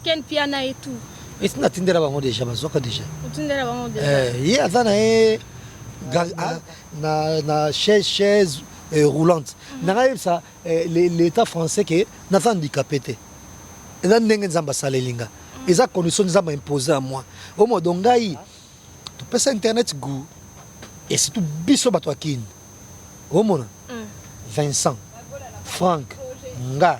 Ken Piana et tout. Est-ce que natindela bango déjà bazwaka déjà? Otindela bango déjà. Eh, ye aza na ye ga- ah, na na chaise chaise eh, roulante. Nanga yebisa eh, le- l'état français que naza handicapé te. Eza ndenge Nzambe asaleli nga. Eza condition Nzambe a imposer à moi. Au moins donc ngai topesa internet goût et surtout biso bato ya Kin. Omona? Mm. Vincent, Franck, nga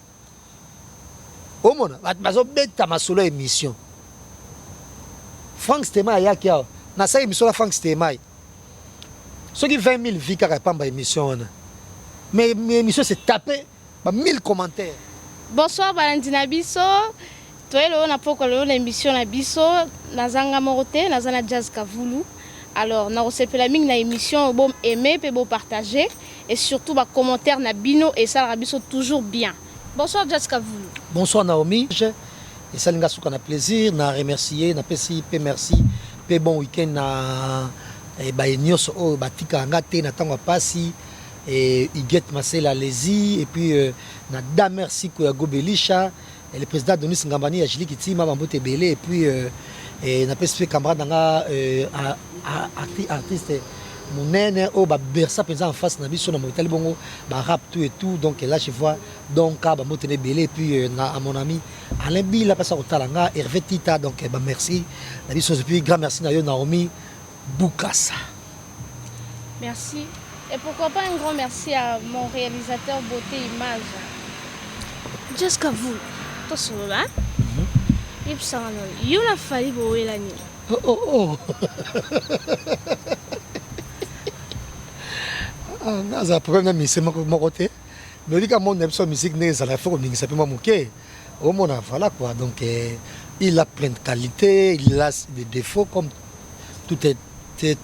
Omona batu bazo beta masolo ya emission. Franck Stemay ayaki awa nasali emission na Franck Stemay soki 20000 vues kaka pamba emission wana mais emission se tape ba 1000 commentaires. Bonsoir balandi na biso. Toye lelo na pokwa lelo na emission na biso naza nga moko te naza na Jazz Kavulu alors nakosepela mingi na emission oyo bom aimer pe bo partager et surtout ba commentaires na bino esalaka biso toujours bien bonsoir Jazz Kavulu. Bonsoir Naomi je esali nga suka na plaisir na remercier na pesi pe merci pe bon week-end na eh, baye nyonso oyo batikaka nga te na ntango ya pasi eh, Huguette Masela Lezi et puis euh, na Damer Siko ya Gobelisha Et le président Donis Ngambani ya Jili Kitima, Bambote Belé, et puis euh, et na pesi camarade nanga euh, artiste, artiste monene oyo babersa mpenza en face na biso na moitali bongo barap tout et tout donc là je vois donka bambote na ebele epuis euh, na mon ami alain bila mpasa kotala nga herve tita donc eh, bamerci na biso epuis grand merci na yo naomi Bukasa. Merci et pourquoi pas un grand merci à mon realisateur beauté image. Just Kavul, to solola. Mhm. Yebisa nga nani. Yo na Fally bowela nini? Oh oh oh. Ah, naza problème na mise moko te. Nolika monde na biso musique ndenge ezala faut koningisa mpe mwa moke. Omona voilà quoi donc euh, il a plein de qualités, il a des défauts comme tout être,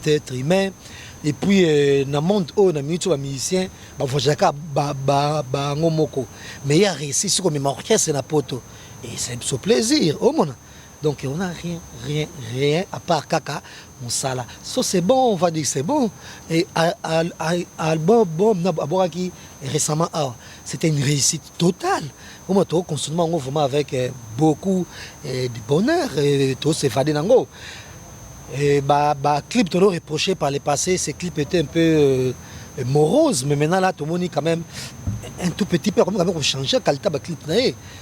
être humain. Et puis euh, na monde oyo na minute ba musicien ba voyaka ba ba ba ngomoko. Mais il a réussi ce comme orchestre na poto. Et c'est ce plaisir. Omona. Donc on a rien rien rien à part kaka musala so c'est bon on va dire c'est bon et album bon na abwakaki récemment awa c'était une réussite totale omo to consommer yango vraiment avec euh, beaucoup euh, de bonheur euh, to s'évader nango et ba ba clip to reproché par le passé ces clips étaient un peu morose mais maintenant là tomoni quand même un tout petit peu akomi quand même kochanger kalita baclip na ye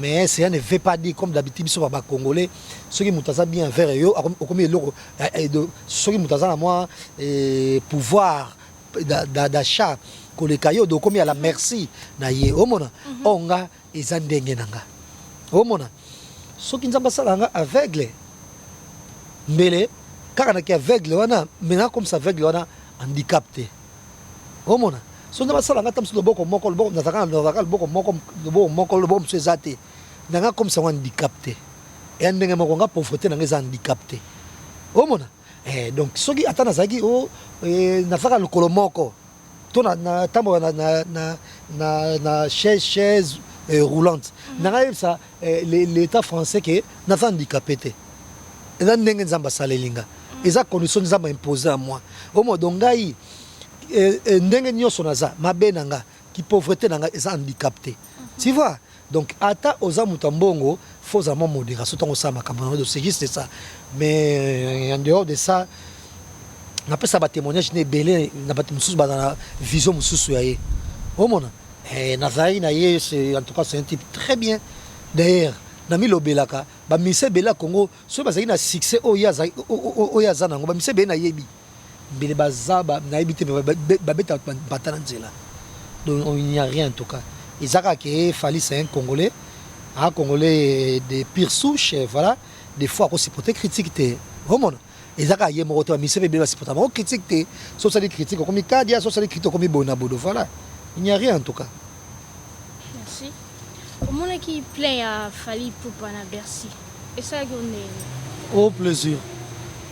mais cela ne veut pas dire comme d'habitude biso ba congolais soki moto aza bien envers yo okomi eloko soki moto aza na mwa pouvoir d'achat koleka yo donc okomi à la merci na ye omona mhm. oyo nga eza ndenge na nga omona soki nzambe asala nga aveugle mbele kaka naki aveugle wana mais nakomisa aveugle wana handicap te Omona soki nga basala nga ata mosusu loboko moko loboko nazalaka na nazalaka loboko moko loboko moko loboko mosusu eza te na nga akomisa yango handicap te ya ndenge moko nga pauvreté na nga eza handicap te omona eh, donc soki ata nazalaki o oh, eh, nazalaka lokolo moko to natambola na, na, na, na, na chaise chaise eh, roulante mm -hmm. na nga yebisa l'etat français que naza handicape te eza ndenge nzambe asaleli nga eza condition nzambe impose à moi omo donc ngai eh, eh, ndenge nyonso naza mabe na nga ki pauvreté na nga eza handicap te tu vois donc ata oza moto ya mbongo faut ozala mwa modération ntango osala makambo na c'est juste ça mais euh, en dehors de ça napesa batémoignage na ebele na bato mosusu bazala vision mosusu ya ye omona Eh, nazalaki na ye en tout cas c'est un type très bien d'ailleurs namilobelaka bamisa ebele ya congo soki bazalaki na succès oyo oyo aza nango bamisa ebele nayebi mbele baza nayebi te babeta bata na nzela donc il n'y a rien en tout cas eza kaka ke fali c'est un congolais un congolais de pire souche voilà des fois akosupporte critique te omona eza kaka ye moko te ba musicien ebele ba supporta bango critique te so osali critique okomi kadia so osali critique okomi bona bodo voilà il n'y a rien en tout cas merci omonaki plein ya Fally Poupa na Bercy esalaki yo ndenge oh plaisir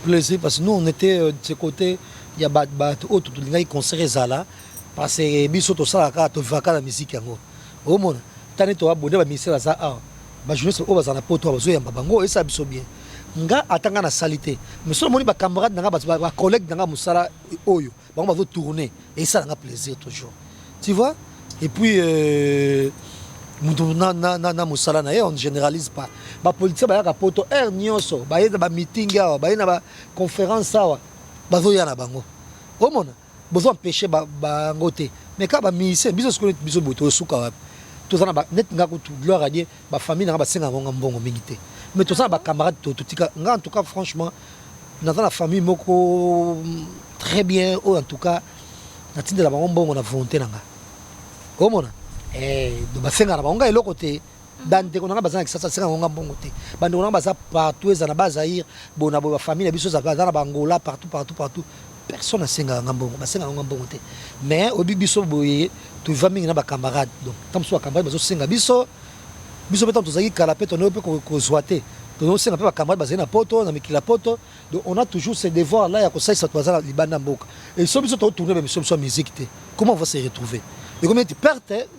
plaisir parce que nous on était euh, de ce côté ya bato bato oyo tolingaki concert ezala parce que biso tosalaka tovivaka na miziki yango Omona tani to abonner ba ministère baza awa ba journaliste oyo bazala na poto awa bazo yamba bango esa biso bien nga ata nga na sali te mais soki omoni ba camarade na nga ba, ba collègue na nga musala oyo bango bazo tourner esa na nga plaisir toujours tu vois et puis euh, mutu na, na, na, na musala na ye on generalise pas ba politicien bayaka poto heure nionso baye na ba meeting awa baye na ba conférence awa bazo ya na bango omona Bozo empecher bango te mais kaka ba musiciens biso sikoyo neti biso boye tozo suka wapi? Toza na ba neti nga kutu gloire à Dieu ba famille na nga ba senga ngo nga mbongo mingi te mais toza na ba camarades to to tika nga en tout cas franchement naza na famille moko très bien oyo en tout cas na tindela bango mbongo na volonte na nga omona eh donc ba senga na bango nga eloko te bandeko na ngai baza na kisasa aseka yango nga mbongo te bandeko na ngai baza partout eza na bazaire boye na boye bafamille na biso eza na bangola partout partout partout personne asengaka nga mbongo basengaka nga mbongo te mais oyebi biso boye toviva mingi na bacamarade donc ntango mosusu bacamarade bazosenga biso biso mpe ntango tozalaki kala mpe tonoi mpe kozwa te tozosenga mpe bacamarade bazali na poto na mikili ya poto donc on a toujours ce devoir là ya kosalisa bato baza na libanda ya mboka e so biso totourne bamiso biso ya musique te comment on va se retrouver ekomi ete perte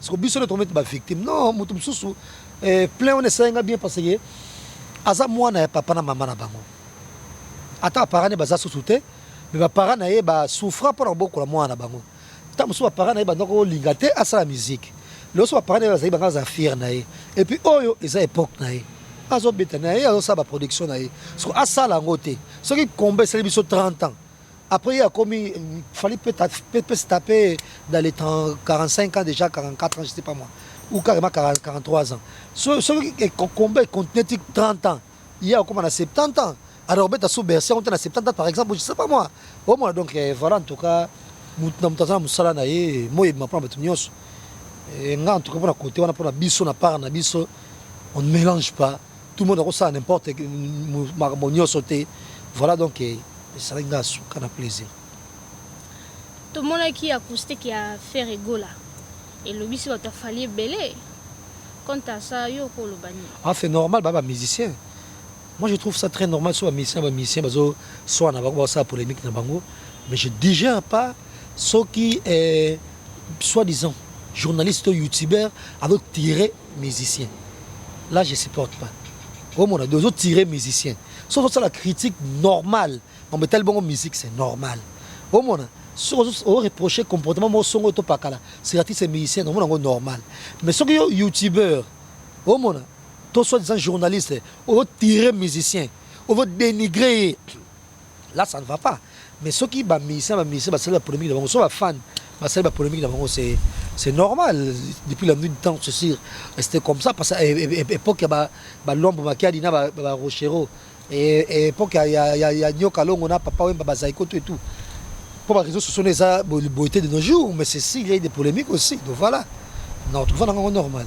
siko biso nde tokomete ba victime non moto mosusu eh, plein wana esali nga bien parce que aza mwana ya papa na mama na bango ata baparent ne baza susu te me baparent na ye basouffra mpo na kobokola mwana na bango ntango mosusu baparent na ye bandako olinga te asala miziki loso baparent na ye bazali banga aza fiere na ye epuis oyo eza epoke na ye azobeta na ye azosala baproduction na ye soko asala yango te soki combat esali biso 30 ans Après ye akomi fallait peut peut peut se taper dans les 30, 45 ans déjà 44 ans je sais pas moi ou carrément 40, 43 ans so so e- ko- combat e continuer ti 30 ans ye akoma na 70 ans alors beta sous bercy yango te na 70 ans par exemple je sais pas moi omona donc eh, voilà en tout cas moto na moto aza na mosala na ye moi ebima mpona bato nyonso Eh, nga en tout cas mpona kote wana mpona biso na part na biso on ne mélange pas Tout le monde ako sala n'importe makambo nioso te voilà donc esalaki nga suka na plaisir. Tomonaki acoustique ya Ferre Gola elobisi bato ya Fally ebele quant à ça yo okoloba nini? Ah c'est normal ba ba musicien Moi, je trouve ça très normal. Soit musicien, soit musicien, soit na bango, ça polémique na bango. Mais je digère pas ce qui est soi-disant journaliste ou youtubeur avec tiré musicien là je supporte pas omona de ozo tirer musicien so ozo sala critique normal mambo etali bongo musique c'est normal omona soki ozo ozo reprocher comportement moko songo to pakala c'est artiste musicien omona ngo normal mais soki yo youtubeur omona to soit disant journaliste ozo tirer musicien ozo dénigrer ye là ça ne va pas mais soki ba musiciens ba musiciens basali ba polemique na bango so ba fan basali ba polemique na bango c'est c'est normal depuis la nuit du temps c'est sûr c'était comme ça parce que eh, eh, eh, époque ya ba ba lombo makiadi na ba, ba rochero et, et époque ya ya ya, ya nyoka longo na papa wemba bazaiko tout et tout pour ba réseaux sociaux eza beauté de nos jours mais c'est si il y a eu des polémiques aussi donc voilà non tout va dans normal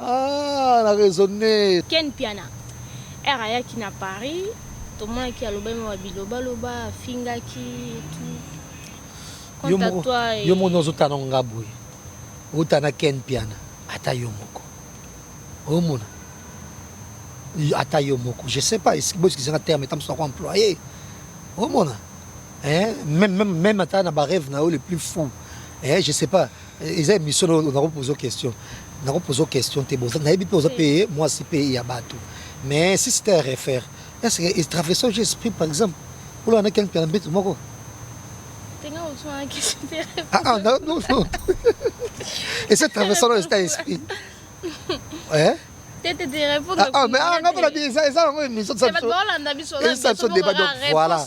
Aah na raisonner. Ken Mpiana heure ayaki na Paris tomonaki alobaki mwa ba biloba loba afingaki et tout. Quant à toi et. Yo moko ozo tala nga boye owuta na Ken Mpiana ata yo moko omona ata yo moko je sais pas bo excuse nga terme etam soko employer omona eh même même même ata na ba rêve na yo le plus fou eh je sais pas eza émission na nako poser question nako poser question te boza nayebi pe oza pe moi si pe ya batu mais si c'était à refaire est-ce que il traverse au esprit par exemple pour la nakel pela mbetu moko tenga ozo na question te ah ah non non non et c'est traverse au esprit ouais tete te répondre ah, ah mais ah ngapela bi eza eza yango émission ça ça ça débat donc voilà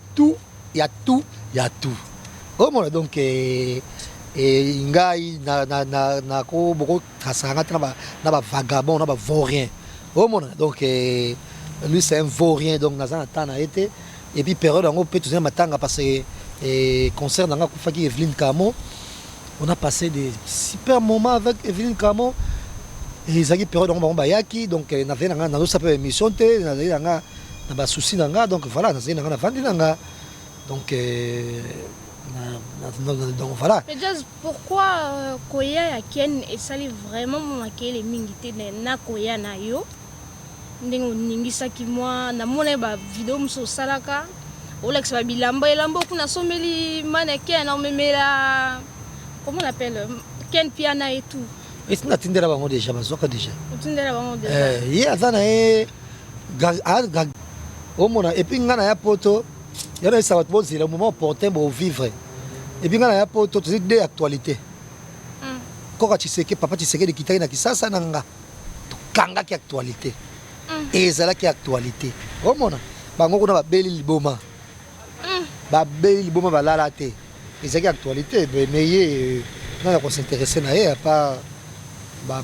Tout ya tout ya tout omona donc eh, ngai na na na na ko boko trasaka ngai tena na ba vagabond na ba vaurien omona donc eh, lui c'est un vaurien donc naza na temps na ye te et puis période yango mpe tozali matanga parce que eh, concert na ngai akufaki Evelyne Camo on a passé des super moments avec Evelyne Camo ezalaki période yango bango bayaki donc eh, nazali na ngai nazosala mpe émission te nazali na ngai na ba souci na nga donc voilà nazali na nga navandi na nga donc euh, donc voilà mais just pourquoi euh, koya ya ken esali vraiment momakele mingi te na koya na yo ndenge oningisaki mwa namona ba video mosusu osalaka olakisa ba bilamba elamba okuna sombeli mana ken omemela comment on appelle euh, ken piana et tout esi natindela bango déjà bazwaka déjà otindela bango déjà eh, ye aza na ye Gag omona epuis ngai naya poto ya nayesa bato bozela moment opportun bovivre epuis ngai naya poto tozali de actualité hmm. koka tshiseke papa tshisekedi ekitaki na kisasa na nga tokangaki actualité hmm. ezalaki actualité omona bango kuna babeli liboma Babeli liboma balala te ezalaki actualite mais ye euh, nani ako s'intéresser na ye apa ba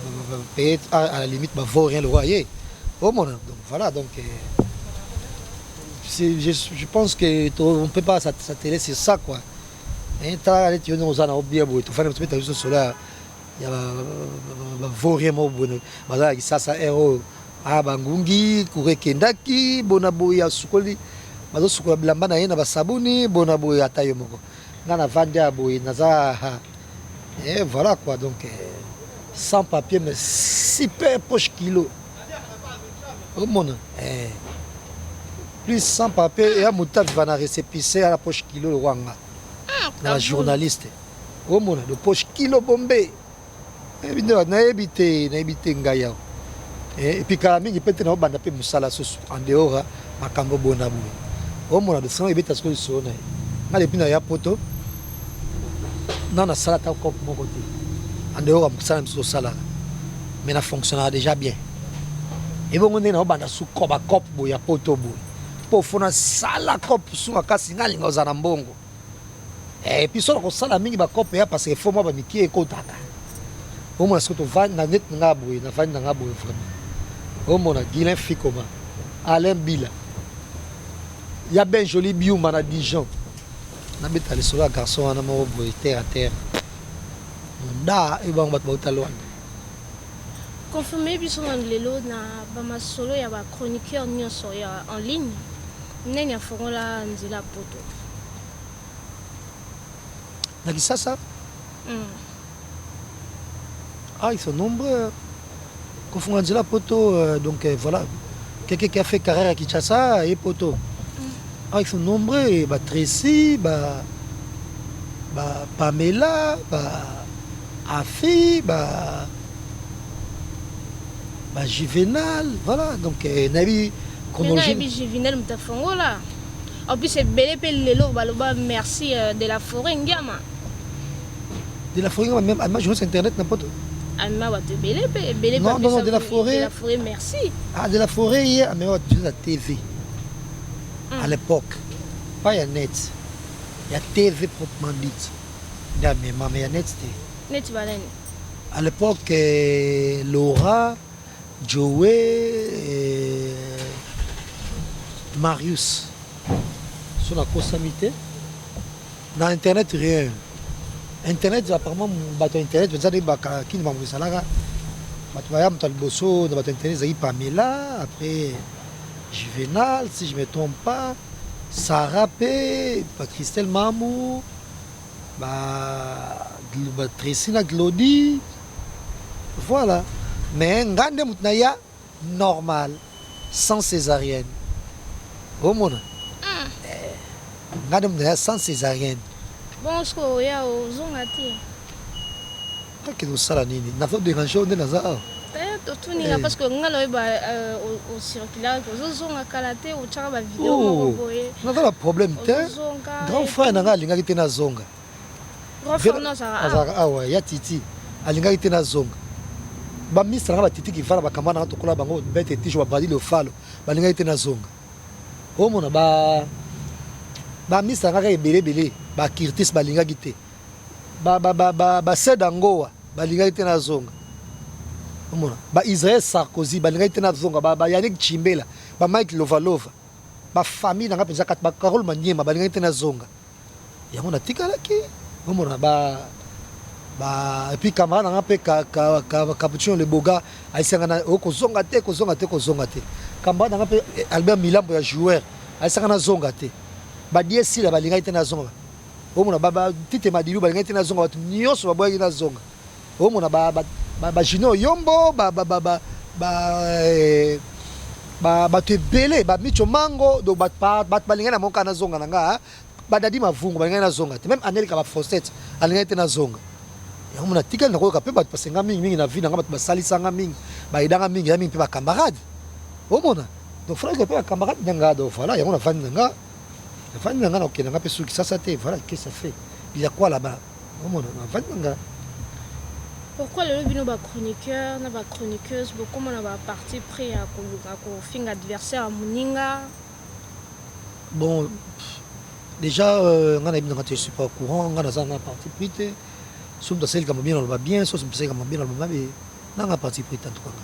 peut à la limite ba vaut rien lokola ye omona donc voilà donc euh, je, je pense que on peut pas s'atteler sur ça quoi eh, tala neti yo ndenge oza na yo bien boye tofandi tobeta biso solo ya ya ba vaurien moko boye baza na kisasa heure oyo a bangungi kura ekendaki bona boye asukoli bazosukola bilamba na ye na basabuni bona boye ata yo moko nga na vandi ya boye naza e voilà quoi donc sans papier mais super poche kilo omona eh. plus sans papier ya motaviva na récépissé ya la poche kilo lokwa nga na bajournaliste omona de poche kilo bombe nayebi nde nayebi te nayebi te ngai yawa eh, epi kala mingi mpe te naobanda mpe mosala susu en dehors ya makambo bona boye omona de sango ebeta sikoyo lisolo na ye ngai depuis na ya poto nano nasala ata cope moko te en dehors ya mosala na biso tosalaka mais na fonctionnaka déjà bien ebongo ndenge naobanda sukoba cope boye ya poto boye mpo fona sala cope suka kasi nalinga ozala na mbongo Eh, puis solo kosala mingi ba cope ya parce que faut moi ba mikie ekotaka. Au moins surtout van na net nga boye na van nga boye vraiment. Au moins na Guilain Fikoma, Alain Bila. Ya ben joli biuma na Dijon. Na beta le solo garçon wana mo boye terre à terre. Nda e bango bat ba utalwana. Confirmer biso nanu lelo na ba masolo ya ba chroniqueurs nionso ya en ligne, nani afongola nzela poto? Na Kisasa? Hum. Ah, ils sont nombreux. hein. Kofunga nzela poto, euh, donc euh, voilà. Quelqu'un qui a fait carrière à Kinshasa et poto. Ah, ils sont nombreux. Et bah, Tracy, bah, bah, Pamela, bah, Afii ba ba juvenal voilà donc euh, nayebi chronologie nayebi juvenal moto afongola en plus ebele mpe lelo baloba merci euh, de la forêt ngiama de la forêt même alma journaliste internet na poto alma bato ebele mpe ebele non non de la forêt de la forêt merci ah de la forêt ye amema bato biso na tv à l'époque pas ya net ya tv proprement dite Nde amemama ya net te. Neti ba nani? À l'epoque Laura, Joe, euh, Marius. So nakosami te. Na internet rien. Internet apparemment bato ya internet baza nde baka kini makambo ezalaka. Bato baya moto ya liboso na bato ya internet ezalaki Pamela, après Juvenal si je me trompe pas, Sarah pe, ba Christelle Mamu. Ba ba Tracy na Glody voilà mais nga nde moto na ya normal sans césarienne omona Eh, nga nde moto na ya sans césarienne Bon, siko oya ozonga te. Nakende kosala nini? Nazo derange yo nde naza awa? Eh, totuni nga parce que nga na oyeba euh, ocirculaka ozozonga kala te otyaka bavideo oh, moko boye naza na problème te grand frère na ngai alingaki te nazonga azalaka awa ah ya titi alingaki te nazonga baministre na ngai batiti kivana bakamba na ngai tokola bango bete tijo babadi lofalo balingaki te nazonga omona ba baministre na ngai kaka ebele ebele bakirtis balingaki te ba ba ba ba ba seda ngowa balingaki te nazonga omona ba Israël Sarkozy balingaki te nazonga ba, ba Yannick Chimbela ba Mike Lovalova ba famille nanga mpenza kati ba Carole Maniema balingaki te nazonga yango natikalaki omona ba ba et puis camarade nanga mpe ka, ka, ka, Capuchino le Boga ayisanga na oh, kozonga te kozonga te kozonga te camarade nanga mpe eh, Albert Milambo ya joueur ayisanga nazonga te badie sila balingaki te nazonga Omona ba ba tite madilu balingaki te nazonga batu nionso baboyaki nazonga omona ba ba ba, ba junior yombo ba ba ba ba, ba eh, ba bato ebele ba micho mango donc bato ba, bato balingaki na monka nazonga na nga badadi mavungu balingaki nazonga te meme anelika ba fosete alingaki te nazonga yango mona tikali nakoyoka mpe bato basenga mingi mingi na vie na nga bato basalisanga mingi bayedanga mingi ya mingi mpe bakambarade omona donc frake mpe bakambarade na nga donc voilà yango navandi na nga navandi na nga nakokenda nga mpe suki sasa te voilà qu'est-ce ça fait il y a quoi là-bas omona navandi na nga pourquoi lelo bino ba chroniqueur na ba chroniqueuse bokoma na ba parti pris ya koluka kofinga adversaire ya moninga bon déjà euh, nga nayebi nanga te je suis pas au courant nga naza na parti pris te soki moto asali likambo bien naloba bien soki moto asali likambo bien naloba mabe nanga parti pris tantukanga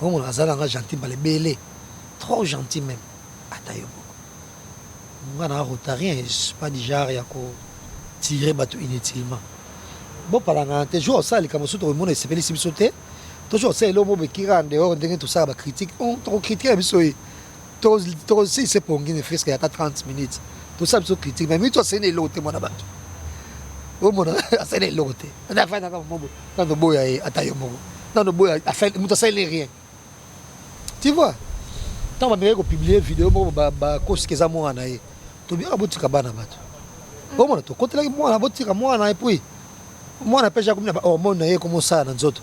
Oyo monaka aza nanga gentil mbala ebele trop gentil meme ata yo moko nga nanga rotarien je suis pas du genre ya ko tire batu inutilement bo palangana te jour osala likambo soki tokomona esepelisi biso te to jour osala eloko bo bekira en dehors ndenge tosala ba critique on toko critiquer biso ye To to si se pongi ne fresque ya ka 30 minutes. To sa biso critique mais mito asene eloko te mwana bato. Oyo mwana asene eloko te. Na fa na ka mobo. Na no boya ye ata yo moko. Na no boya afel mito asene rien. Tu vois? Tant ba meko publier vidéo moko ba ba kosi keza mwana ye. To bien abotika bana bato. Oyo mwana to kotelaki mwana abotika mwana et puis mwana pe ja komina ba hormone na ye komosala na nzoto.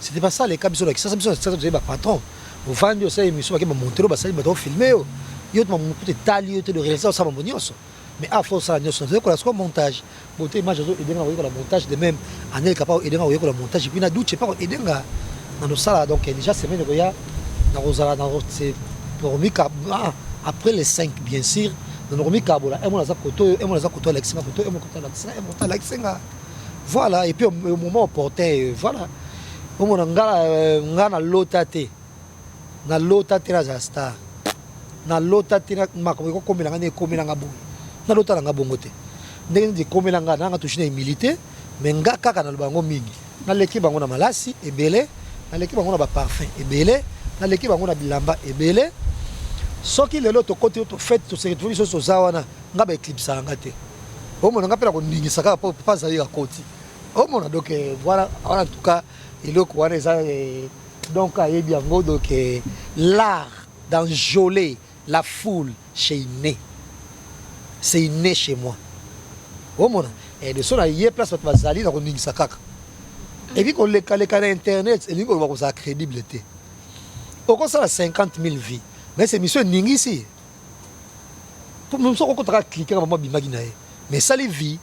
C'était pas ça les cas biso na kisasa biso na kisasa tozali ba patron ovandi osala émission bake bamontelo basali bato ofilme yo yo to mamoto kutu etali yo te le réalisateur osala mambo nyonso mais awa fo osala nyonso nazo yekola sikoyo montage bote image azo edenga koyekola montage de même anel kapa edenga koyekola montage epuis na duce pa edenga na nosala donc déjà semaine ekoya nakozala nakomika ah, après les 5 bien sûr na nakomikabola emona aza koto oyo emona aza koto alakisi nga koto emona koto alakisi nga emona koto alakisi nga Voilà et puis au moment opportun euh, voilà omona nga euh, nga na lota te na lota te nazala star na lota te makambo ekokomela nga nde ekomela nga bongo na lota na nga bongo te ndenge nini ekomela nga nanga touche na humilité mais nga kaka naloba yango mingi naleki bango na malasi ebele naleki bango na baparfum ebele naleki bango na bilamba ebele soki lelo tokoti tofete toseretrouve lisusu toza wana Nga ba eclipsaka nga te omona nga pe nako ningisa kaka po papa Zaïre akoti omona donc voilà en tout cas eloko wana eza donc ayebi yango donc l'art d'enjoler la foule chez inne c'est inne chez moi omona et de son aye place bato bazali nako ningisa kaka epi koleka leka na internet elingi koloba kozala crédible te okosala 50 000 vues mais émission eningisi po musu akokota kaka clique kaka mama abimaki na ye mais esali vie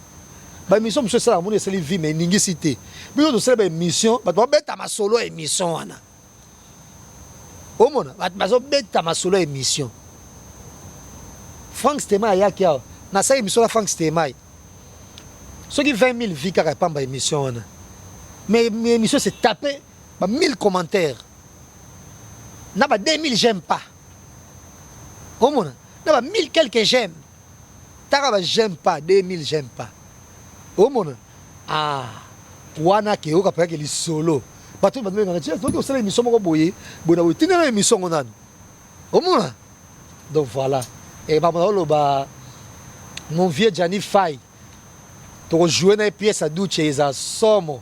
ba émission mosusu esalaka moni esali vie mais eningisi te biso tosali ba émission bato babeta masolo ya émission wana omona bato bazobeta masolo ya émission frank stemai ayaki awa nasali émission na frank stemai soki 20 000 vie kaka epamba émission wana mais émission se tape ba 1000 commentaires na ba 2000 j'aime pas omona na ba 1000 quelques j'aime taka ba j'aime pas 2000 j'aime pas omona ah wana ke oka paka lisolo bato batu bengana tia toki osala emission moko boye boye na boye tinda na emission ngo nanu omona donc voilà et ba mona oloba mon vieux Gianni Fay toko jouer na pièce ya Duce eza somo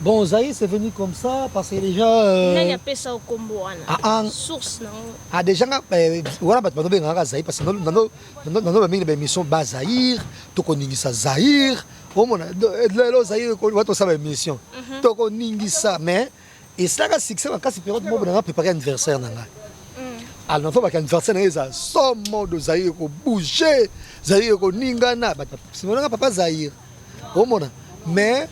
Bon, Zaïre, c'est venu comme ça parce que déjà. Euh... Nani apesa au combo wana. Ah, ah. Source non. Ah déjà nga euh, wana bato balobi nga Zaïre parce que dans dans dans dans mingi ba émission ba Zaïre, to koningisa Zaïre. Omona lelo Zaïre ko wato sala émission. Mhm. To koningisa mais esilaka succès makasi periode moko nanga prépare anniversaire na ngai alors nafo baka anniversaire na ye eza so mode ozali ekobouge zali ekoningana simonaka papa zaire omona mais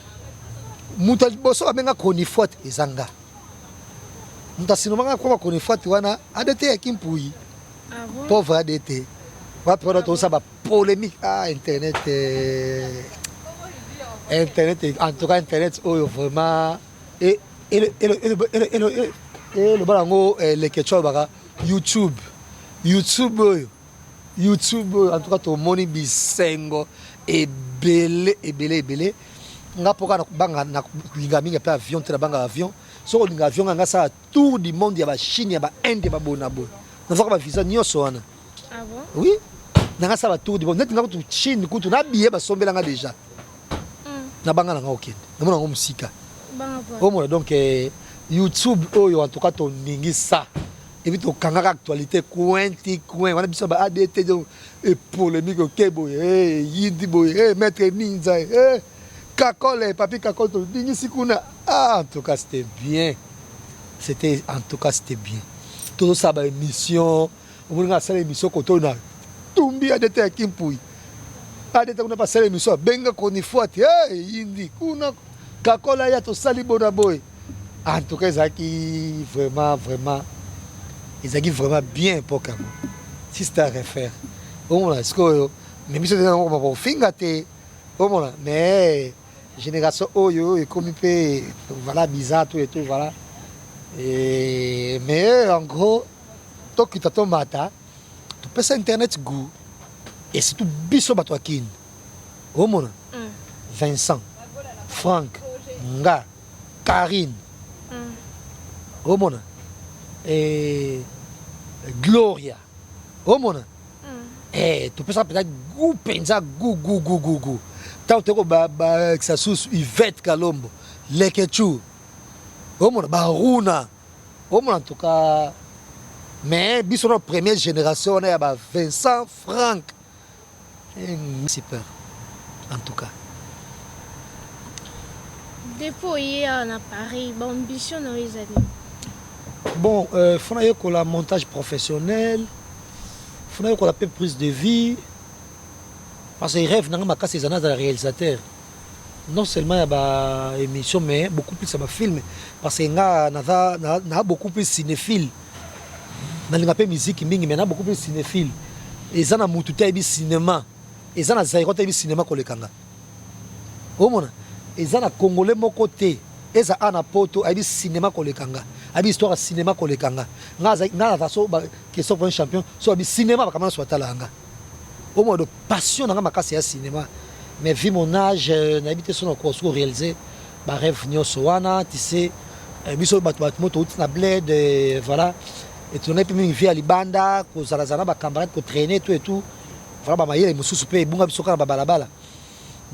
moto ya liboso babenga chronifuate eza nga moto asinomanga koma chronifuate wana adt ya kimpuyi pauvre adt wapi wana tosa bapolémique a ah, internet eh. internet en tout cas internet oyo vraiment Eloba nango leketshou alobaka YouTube YouTube oyo YouTube oyo en tout cas tomoni bisengo ebele ebele ebele nga mpoka na kobanga na kolinga mingi mpe avion te na banga avion soki olinga avion nga nga sala tour du monde ya bachine ya bainde ya babonaboye nazwaka bavisa nyonso wana Ah bon? Oui. Nanga sa ba tour du monde. Net nga kutu Chine kutu na billet ba sombela nga déjà. Mm. Na banga nanga okende. Na mona ngo musika. Banga po. Omo donc eh, YouTube oyo en tout cas to ningi sa. Et puis to kangaka actualité coin ti coin. Wana biso ba ADT donc et polémique au kebo. Eh, yindi boy. Eh, maître ninja. Eh. Kakole, papi Kakole to ningi sikuna. Ah, en tout cas c'était bien. C'était en tout cas c'était bien. Tout ça ba émission Omoni nga nasala emission kotoyo na tumbi adeta ya kimpuyi adeta kuna basala emission abenga chronifuati hey, yindi kuna kakola ya tosali bona boye en tout cas ezalaki vraiment vraiment ezalaki vraiment bien époque yango sista refaire omona sikoyo me biso tena okoma kofinga te omona mais génération oyo ekomi mpe voilà bizarre tout et tout voilà et mais en gros tokita tomata topesa internet gout et surtout biso bato ya kin omona mm. vincent frank nga carine mm. omona e, gloria omona mm. e, topesa mpenza gu mpenza gu gu gu gu gu ntango toyeko bakisa susu ivete kalombo lekechou omona baruna ba Omona en tout cas mais biso na première génération wana ya ba Vincent Franck eh, super en tout cas depuis oye awa na paris baambition na yo eza nini bon euh, fo nayekola montage professionnel fo nayekola mpe prise de vie parce que rêve nanga makasi eza nazala réalisateur non seulement ya ba emission mais beaucoup plus ya ba film parce que nga naza na, na beaucoup plus cinéphile nalinga pe musique mingi mais na beaucoup plus cinéphile eza na mutu te ayebi cinéma eza na zairo te ayebi cinéma koleka nga omona eza na congolais moko te eza a na poto ayebi cinéma koleka nga ayebi histoire ya cinéma koleka nga nga naza so question pour un champion so ayebi cinéma bakamana so atala nga Oyo mois de passion nanga makasi ya cinema mais vu mon age nayebi te soki nakoka soki realiser ba rêve nionso wana tu sais euh, biso bato bato moto outi na bled euh, voilà etulanga mpe mingi vie ya libanda kozalazala na bacamarade kotraine to etout vraiment bamayele mosusu mpe ebunga biso kaka na babalabala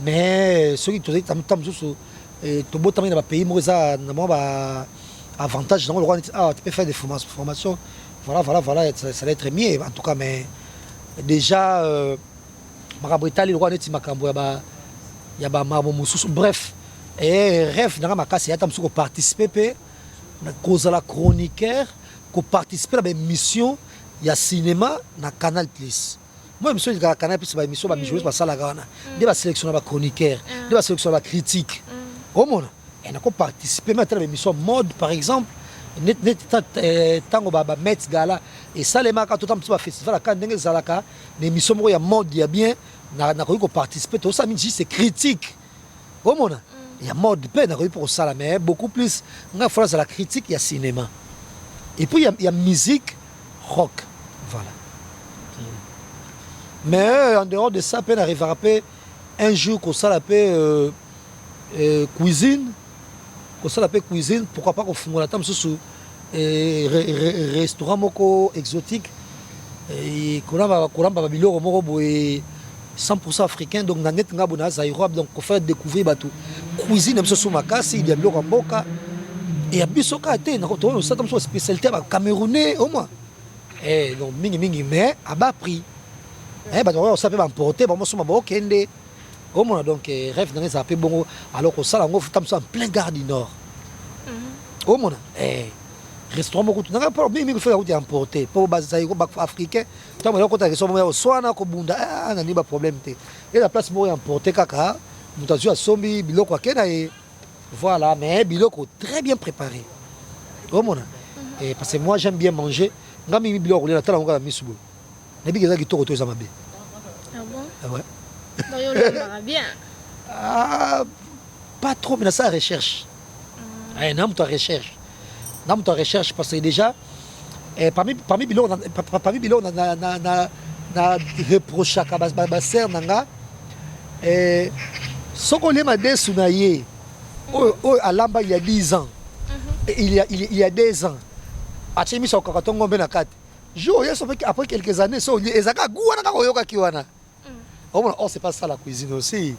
Mais soki tozali ntango mosusu eh, tobotamaki na bapays moko eza na mwa ba avantage nango lokola neti awa tu peux faire des formations voilà voilà voilà ça, ça va être mieux en tout cas mais déjà euh, makambo etali lokola neti makambo ya ba ya ba makambo mosusu bref e eh, rêve nanga makasi ata mosusu koparticipe mpe kozala chroniqueur koparticipe na baémission ya cinéma na canal plus Moi emission elikaka canal plus ba emission ba bijoueurs basalaka wana nde ba sélectionna ba chroniqueurs nde ba sélectionna ba critiques omona et nako participer mais atala ba emission mode par exemple net net tango ba ba Met Gala et salemaka totam ba festival aka ndenge ezalaka na emission moko ya mode ya bien nakoki ko participer tosala mingi juste critique omona ya mode pe nakoki mpo kosala mais beaucoup plus nga fo nazala critique ya cinema et puis ya, ya musique rock voilà mais euh, en dehors de ça pe na revaka pe un jour kosala pe euh, euh, cuisine kosala pe cuisine pourquoi pas kofungola ata mosusu restaurant moko exotique kolamba kolamba ba biloko moko boye 100% africain donc na net nga bona zaïrois donc ko faire découvrir bato cuisine biso so makasi ya biloko ya mboka et ya biso kaka te na koto osaka biso spécialité ba camerounais au moins eh donc mingi mingi mais à bas prix eh bato oyo sape ba importer ba mosuma ba okende Ozo mona donc eh, rêve nanga ezala pe bongo alors kosala yango futa mosusu en plein gare du nord mhm. ozo mona eh restaurant moko nanga po mingi mingi fela kutu emporter po bazali ko africain ntango ya kota restaurant ya oswana kobunda ah, ah, na nini ba problème te et la place moko ya emporter kaka moto azwi asombi biloko ake na ye voilà mais biloko très bien préparé ozo mona mhm. eh, parce que moi j'aime bien manger nga mingi biloko kolia natala yango kaka misu boye Nayebi que eza kitoko to eza mabe. Ah bon? Ah ouais. Donc yo olambaka bien? Ah, pas trop, mais na sa recherche. Mm. Eh, na moto ya recherche. Na moto ya recherche parce que déjà eh, parmi parmi biloko na parmi biloko na na na na, na reprochaka ba, ba, ba sœur na nga eh soko le madesu na ye oyo oyo alamba il y a 10 ans. Mm -hmm. il y a il y a 2 ans. Atie miso kaka tongo mpe na kati. jour oye sope après quelques années so olie eza kaka goût wana kaka oyokaki wana omona or c'est pas ça la cuisine aussi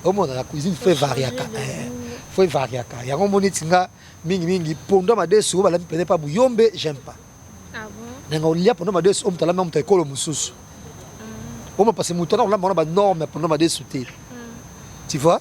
omona la cuisine fo evariaka fo evariaka yango omoni eti nga mingi mingi pondo ya madesu oyo balami pene pa buyombe j'aime pas nanga olia pondo ya madesu oyo moto alami moto ya ekolo mosusu omona parce moto wana kolamba wana banorme ya pondo ya madesu te tu vois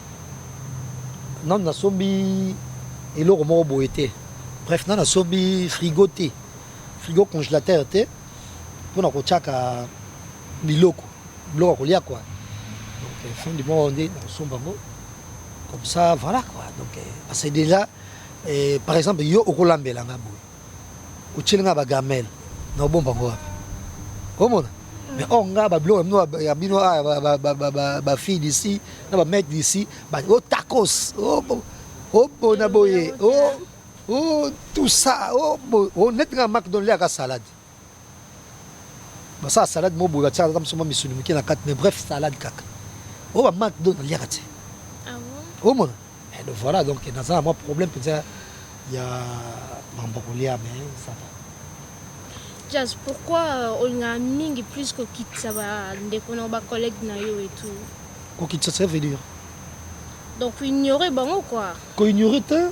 Nanu na sombi eloko moko boye te bref nanu na sombi frigo te frigo congelateur te pona ko tiaka biloko biloko ya kolia quoi donc euh, fin du mois oyo nde nakosomba yango comme ça voilà quoi donc euh, parce que déjà eh, par exemple yo okolambela nga boye Otieli nga ba gamelle mais obomba ngo wapi? Omona? Mais or nga ba biloko bino ya bino ah ba ba ba ba fille d'ici na ba mec d'ici ba o tacos o o bona boye o o tout ça o o net nga McDonald ya ka salade Basala salade moko boye batiaka kaka mosoma misuni moke na kati mais bref salade kaka oyo ba McDo naliaka te ah omona eh, donc voilà donc naza na mwa problème mpenza ya mambo kolia mais ça va Jazz, pourquoi euh, olingaka mingi plus kokitisa bandeko na bacollègue na yo et tout kokitisa ça veut dire donc ignorer bango quoi koignore te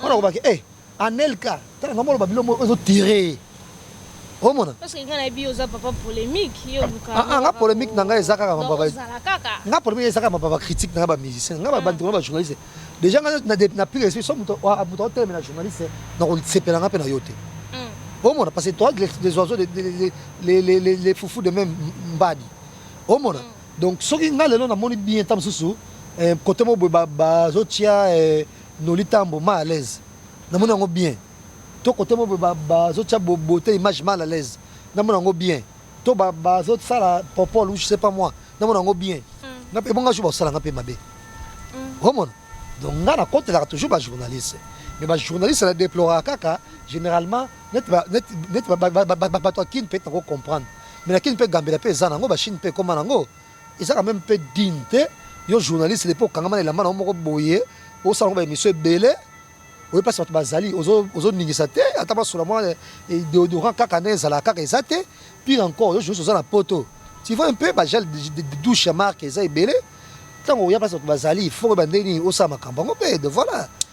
Mwana ko baki eh Anelka tala nga moloba bilo moko ezo tirer omona parce que nga na bi oza papa polemique yo luka ah, ah nga polemique na nga eza kaka ma papa nga polemique eza kaka ma papa critique na nga ba musicien nga ba ah. bandi ba journaliste déjà nga na na plus respect so moto wa moto hotel na journaliste na ko sepela nga pe na yo te hmm. omona parce que toi les oiseaux les les les les les foufou de même mbadi omona hmm. donc soki nga lelo na moni bien tam susu eh, côté mo ba ba zotia eh, Nolly tambo mal à l'aise namoni yango bien to cote bobo bazo tia beaute image mal à l'aise namona yango bien to bazo sala popol ou je sais pas moi namona yango bien nga pe bonga jour basala nga pe mabe omona donc nga na kotelaka toujours ba journaliste mais ba journaliste na deploraka kaka généralement neti neti bato ya kin peut-être nako comprendre mais na kin pe gambela pe eza nango ba chine pe ekoma nango Eza quand meme peu digne te yo journaliste depuis okangama na elamba na yo moko boye osala ngo ba emission ebele oye mpasi bato bazali ozoningisa te ata basola mwa deodorant kaka nde ezalaka kaka eza te pire encore yo journaliste oza na poto tu vois un peu bagel douche ya marque eza ebele ntango oya mpasi bato bazali foko ebandeli nini osala makambo yango mpe de voilà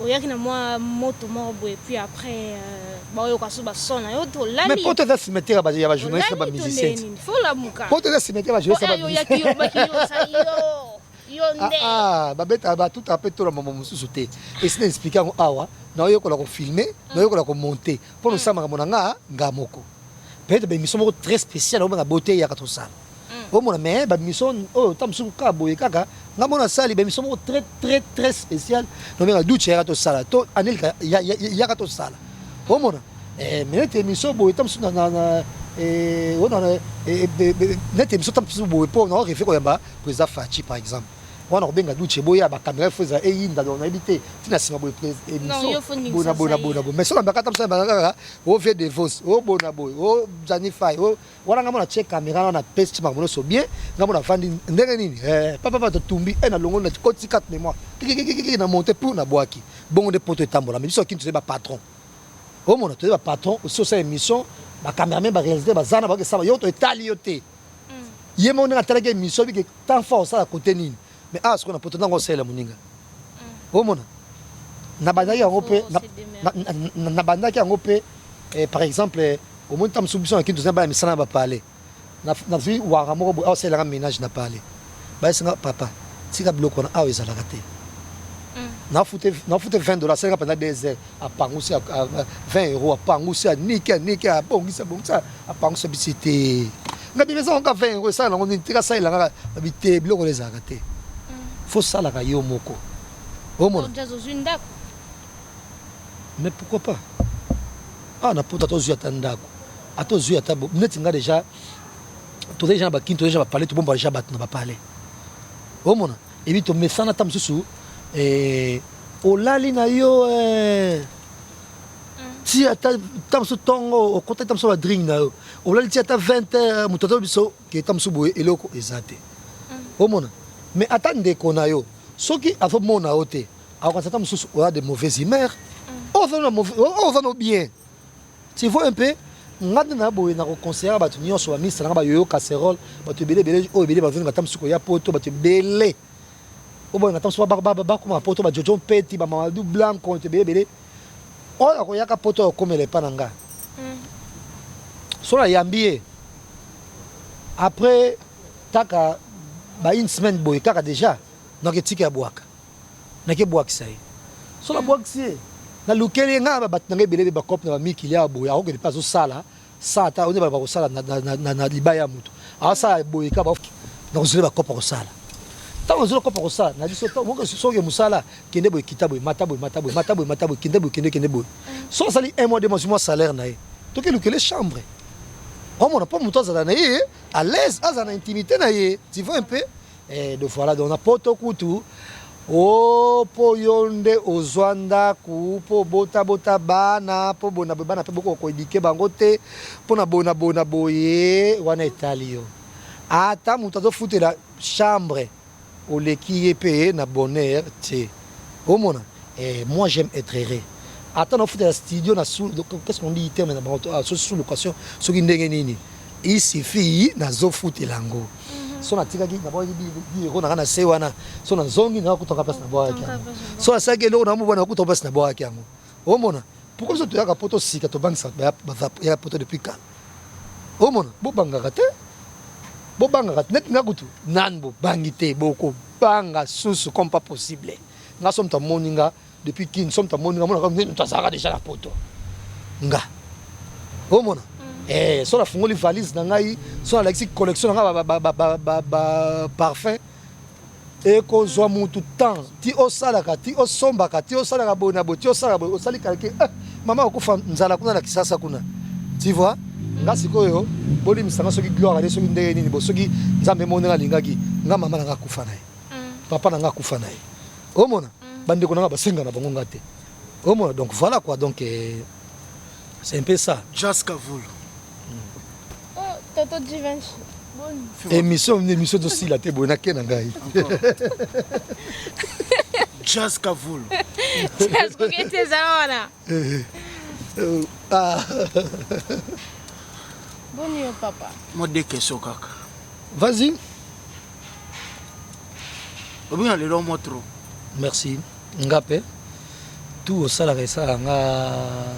oyaki na mwa moto moko boye puis après euh, baoyoka so bason na yo mais tolali poto eza cimetière ya ba- ya bajournaliste na tolali tondee bamusiciens nini fo olamuka poto eza cimetière ya bajournaliste na oyo oyaki bamusiciens yobaki yosa yo yo Ah, nde ah, babeta batuta mpe tola mambo mosusu te esi na explike yango awa naoyekola kofilme naoyekola komonte mpo nosala makambo na nga nga moko peut-être baemission moko très spéciale obenga boteyaka tosala mm. omona mais ba mission oyo ta musuku ka boye kaka nga mona sali ba mission moko très très très spécial no benga duce yaka to sala to anelika yaka to sala omona eh mais nete mission boye ta musuku na na eh ona na nete mission ta musuku boye po na refe ko ya ba président Fachi par exemple wana kobenga duce boya bakamera fo ezala eyinda donc nayebi te ntina nsima boye emissionbonabonabonabo mais soki ambaka ata mosala baa kaka o vie de vos o bonaboye o janifai o Wana ngambo na tie camera wana na pesi makambo nyonso bien ngambo na vandi ndenge nini eh papa papa totumbi eh na longo na koti carte mémoire kikikiki na monte pour na boaki bongo nde poto etambola mais biso kini tozali ba patron omona tozali ba patron osi osala émission ba cameraman ba réalisateur bazana bakesala yo to etali yo te ye moko ndenge atalaki émission bike temps fort osala kote nini Mais awa sikoyo na poto nanga osalela moninga omona nabandaki yango mpe nabandaki yango mpe eh, par exemple omoni ntango mosusu biso na kintu tozali bana misala na bapale nazwi wara moko boye aosalelaka ménage na pale bayesinga papa tika biloko wana awa ezalaka te nafute 20 dollars asalaka mpenza 2 heures apangusi 20 euro apangusi aniki aniki abongisi abongisa Apangwisa biso te. Nga bino eza kaka 20 euros esala nango nini? Tika salela kaka babi te biloko na ezalaka te. Faut salaka yo moko. Omona? Donc jazz ozui ndako? Mais pourquoi pas? Awa na poto ata ozui ata ndako, ata ozui ata neti nga deja tozali deja na ba kin, tozali deja ba palais, tobomba deja bato na ba palais. Omona? Ebi tomesana ata mosusu eh, olali na yo eh. ti ata ta mosusu ntongo okotaki ta mosusu ba drink na yo olali ti ata 20 heures moto aza biso ke ta mosusu boye eloko eza te mm. omona mais ata ndeko na yo soki azomona yo te akokanisa ta mosusu oya de mauvaise humeur mm. oyo oza no bien tu vois un peu nga nde na boye na koconseillaka bato nyonso bamisalanga bayoyo casserole bato ebele ebele oyo ebele bazonga ta mosusu koya poto bato ebele oyo balinga ntango mosusu bakoma poto ba jojo mpeti ba mamadou blanc konto ebele ebele oyo akoyaka poto oyo akomela epa na nga mm. so nayambi ye après kaka ba une semaine boye kaka déjà nake tika ya bwaka nake bwakisa ye so nabwakisi ye nalukeli ye ngai bato na ngai ebele bacope na bamikili ya boye akokende mpe azosala Sala ta onde bakosala na, na, na, na libaya ya moto asala boye ka ba na kozela bakopa kosala ntango ozela kopa kosala na biso soki mosala kende boye kita boye mata boye mata boye mata boye mata boye kende boye kende kende boye soki asali un mois de mois mwa salaire na ye toki lukele chambre omona mpo moto azala na ye à l'aise azala na intimité na ye tu vois un peu Eh do voilà donc na poto kutu oh po yo nde ozwa ndaku po obota bota bana po bona boye bana pe boko ko eduquer bango te pona boye na boye na boye wana etali yo ata mutu azo futela chambre oleki ye pe na bonheur te omona eh moi j'aime être heureux ata na ofutela studio na sous qu'est-ce qu'on dit terme na bango sous location soki ndenge nini Il suffit nazo futela yango so natikaki nabwaki biloko nanga na se wana so nazongi nanga kutaka place nabwakaki yango so asalaki eloko na mobwana kutaka place nabwakaki yango omona pourquoi biso toyaka poto sika tobangisa ya poto depuis kala omona bobangaka te bobangaka te neti nga kutu nani bobangi te bokobanga susu comme pas possible nga so moto amoni nga depuis kin somme tamoni nga mona kaka mutu azalaka déjà na poto nga omona mm. eh so nafungoli valise na ngai so nalakisi collection na ngai baparfum ekozwa mutu temps ti osalaka ti osombaka ti osalaka boye na boye ti osalaka boye osali kalke eh, mama okufa nzala kuna na kisasa kuna ti vois nga sikoyo bolimisa nga soki gloire ale soki ndenge nini bo soki nzambe moni nga alingaki nga mama na nga akufa na ye papa na nga akufa na ye omona bandeko na nga basenga na bango nga te omona donc voilà quoi donc euh, c'est un peu ça jas kavulu toto divinci émission émission tosila te boye nake na ngai jas kavulu jas kokete eza wana Boni yo papa? Moi deux questions kaka. Vas-y. Obina lelo moi trop. Merci. Nga pe. Tout osalaka esalaka nga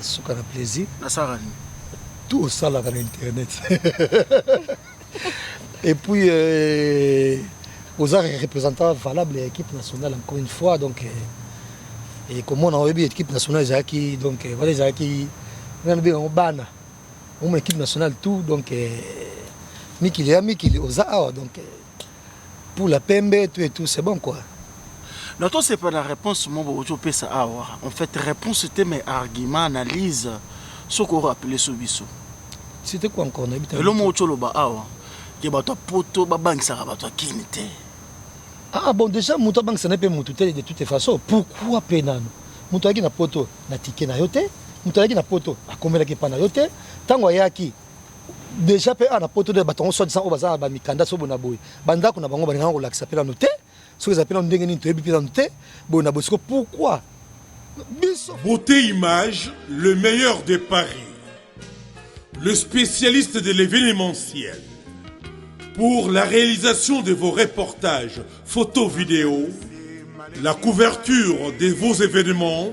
suka na plaisir. Nasalaka nini? Tout osalaka na internet. Et puis, euh, aux arts représentants valables ya équipe nationale encore une fois donc euh, et comment on a vu équipe nationale ezalaki donc euh, voilà ezalaki nani obenga yango bana omona équipe nationale tout donc euh, mikili ya mikili oza awa donc euh, pula pembe tout et tout c'est bon quoi. Non to sepela na reponse mo bo ozo pesa awa en fait reponse te mais argument analyse soki o rappeler so biso. C'était quoi encore na bita. Elo mo ozo loba awa ke bato ya poto ba bangisaka bato ya kin te. Ah bon déjà moto abangisa na pe moto te de toute façon pourquoi pe nanu moto ayaki na poto na ticket na yo te moto ayaki na poto akomelaki epa na yo te ntango ayaki Dejà pe awa na poto nde bato yango soit disant oyo baza na ba mikanda soki boye na boye ba ndako na bango balinga nanu kolakisa pe nanu te soki eza pe nanu ndenge nini toyebi pe nanu te boye na boye sikoyo pourquoi biso Beauté Image, le meilleur de Paris, le spécialiste de l'événementiel. Pour la réalisation de vos reportages, photos, vidéos, la couverture de vos événements,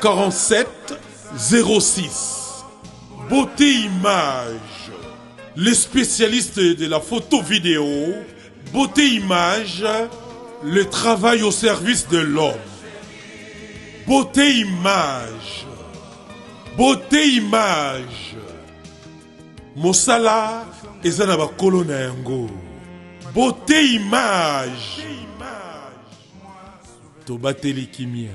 47 06 beauté image le spécialiste de la photo vidéo beauté image le travail au service de l'homme beauté image beauté image mosala eza na bakolo na yango beauté image tobateli kimia